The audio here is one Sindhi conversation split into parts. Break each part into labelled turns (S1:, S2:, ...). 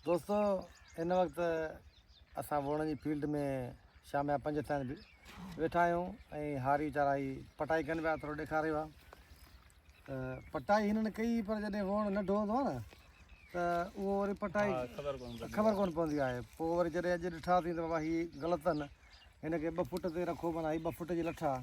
S1: دوستو هن وقت اسان ووڻن جي فيلڊ ۾ شام جا پنج ٿيا آهن ويٺا آهيون ۽ هاري ويچارا هي پٽائي ڪن پيا ٿورو ڏيکار رهيو آهي ته پٽائي هنن ڪئي پر جڏهن ووڻ ننڍو هوندو آهي نه ته اهو وري پٽائي خبر ڪون پوندي آهي پوء وري جڏهن اڄ ڏٺاسين ته بابا هي غلط اهن هن کي ٻه فوٽ تي رکو معنيٰ هي ٻه فوٽ جي لٺ آهي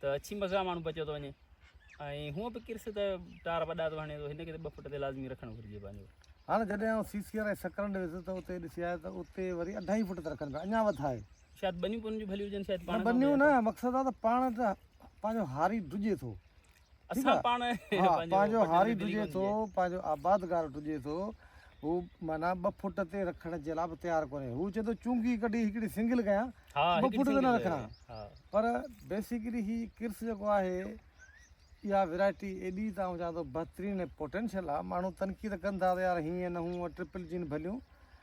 S2: ته اڇي مزا ماڻهو بچيو ٿو وڃي ۽ هونء به ڪرس ته ٽار وڏا ٿو هڻي ٿو هن کي ته ٻه فٽ تي لازمي رکڻ گهرجي پنهنجو هاڻ جڏهن آئون سي
S1: سي آر ۽ سڪرنڊ ويس ته اتي ڏسي آيو ته اتي وري اڍائي فٽ ته رکن پيا اڃا وڌائي شايد ٻنيون پنهنجون
S2: ڀليون هجن شايد پاڻ نه ٻنيون نه مقصد آ ته
S1: پاڻ ته پنهنجو هاري ڊڄي ٿو
S2: ٺيڪ آ ها پنهنجو هاري
S1: ڊڄي ٿو پنهنجو آبادگار ڊڄي ٿو هو معنيٰ ٻه فٽ تي رکڻ جي لاء به تيار ڪونهي هو چوي ٿو چونگي ڪڍي هڪڙي سنگل ڪيان ٻه فٽ تي نه رکان پر بيسڪلي هي ڪرس جيڪو آهي اها ويرائٽي ايڏي ته آئون چوان ٿو بهترين ۽ پوٽينشل آ ماڻهو تنقيد ڪن ٿا ته يار هيئن نه هونئن ٽرپل جين ڀليون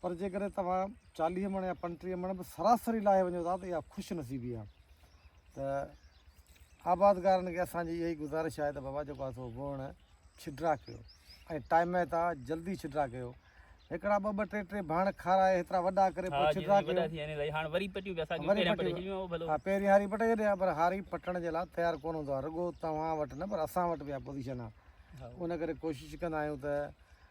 S1: پر جيڪڏهن توهان چاليهه مڻ يا پنٽيهه مڻ به سراسري لاهي وڃو ٿا ته اها خوش نصيبي آهي ته آبادگارن کي اسان جي اها ئي گذارش آهي ته بابا جيڪو آهي بوڻ ڇڊرا ڪيو ۽ ٽائم ۾ تها جلدي ڇڊرا ڪيو هڪڙا ٻه ٻه ٽي ٽي ڀاڻ کارائي هيترا وڏا ڪري پوء ڇڊرا ڪيو وري پٽيون به اسان پهريان پٽي ڇڏيون ڀلو ها پهرين هاري پٽي ڇڏي ها پر هاري پٽڻ جي لاء تيار ڪونه هوندو آهي رڳو توهان وٽ نه پر اسان وٽ به اها پوزيشن آهي ان ڪري ڪوشش ڪندا آهيون ته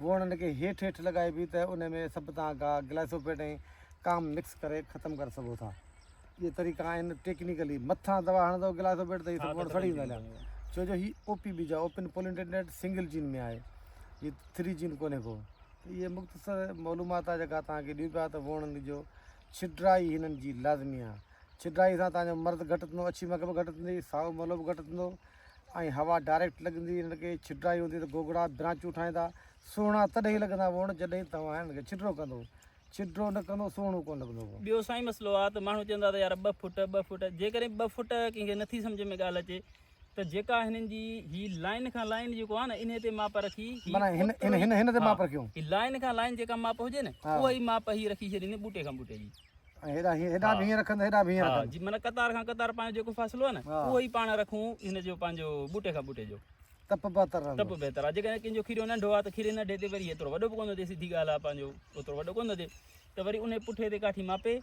S1: هو انهن کي هيٺ هيٺ لڳائبي ته ان ۾ سڀ تان اڳا گلائسوپيٽ ۽ ڪام مڪس ڪري ختم ڪري سگهو ٿا. اهي طريقا آهن ٽيڪنيڪلي مٿان دوا هڻندو گلائسوپيٽ ته هي سڀ وڻ سڙي ويندا هليا ڇو جو هي او پي بيجا اوپن پولينٽينٽيڊ سنگل جين ۾ آهي هي ٿري جين ڪونهي ڪو ته اهي مختصر معلومات آهي جيڪا توهان کي ڏيون پيا ته وڻن جو ڇڊرائي هنن جي لازمي آهي ڇڊرائي سان توهان جو مرد گهٽ ٿيندو اڇي مک به گهٽ ٿيندي سائو ملهو به گهٽ ٿيندو ۽ هوا ڊائريڪٽ لڳندي هن کي ڇڊرائي هوندي ته گوگڙا برانچون ٺاهيندا سهڻا تڏهن ئي لڳندا ووڻ جڏهن توهان هن کي ڇڊرو ڪندو ڇڊرو نه ڪندو سهڻو ڪونه لڳندو ووڻ. ٻيو سائين مسئلو آ
S2: ته ماڻهو چون ٿا ته يار ٻه فوٽ ٻه فوٽ جيڪڏهن ٻه فوٽ ڪنهن کي نٿي سمجهه ۾ ڳالهه اچي ته جيڪا هنن جي هي لائين کان لائين جيڪو آ نه انهي تي ماپ رکي هي معنيٰ هن هن
S1: هن هن تي ماپ رکيون. هي لائين کان لائين جيڪا
S2: ماپ هجي نه اها ئي ماپ هي رکي ڇڏيندي ٻوٽي کان ٻوٽي جي. هيڏا هيڏا
S1: ڀينهن رکن هيڏا ڀينهن رکن ها جي معنی قطار کان قطار
S2: پنهنجو جيڪو فاصلو آهي نه اهو ئي پاڻ رکون هن جو پنهنجو ٻوٽي کان ٻوٽي جو تپ بهتر رهندو تپ
S1: بهتر آهي جيڪڏهن ڪنهن جو کيريو
S2: ننڍو آهي ته کيري ننڍي تي وري ايترو وڏو به ڪونه ٿئي سڌي ڳالهه آهي پنهنجو اوترو وڏو ڪونه ٿئي ته وري ان پٺي تي ڪاٺي ماپي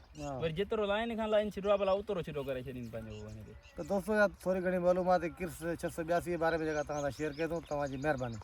S2: وري جيترو لائن کان لائن ڇڏو بلا اوترو ڇڏو ڪري ڇڏين پنهنجو وڃي تي ته دوستو يا
S1: ٿوري گهڻي معلومات ڪرس 682 جي
S2: باري
S1: ۾ جيڪا توهان سان شيئر ڪئي ٿو توهان جي مهرباني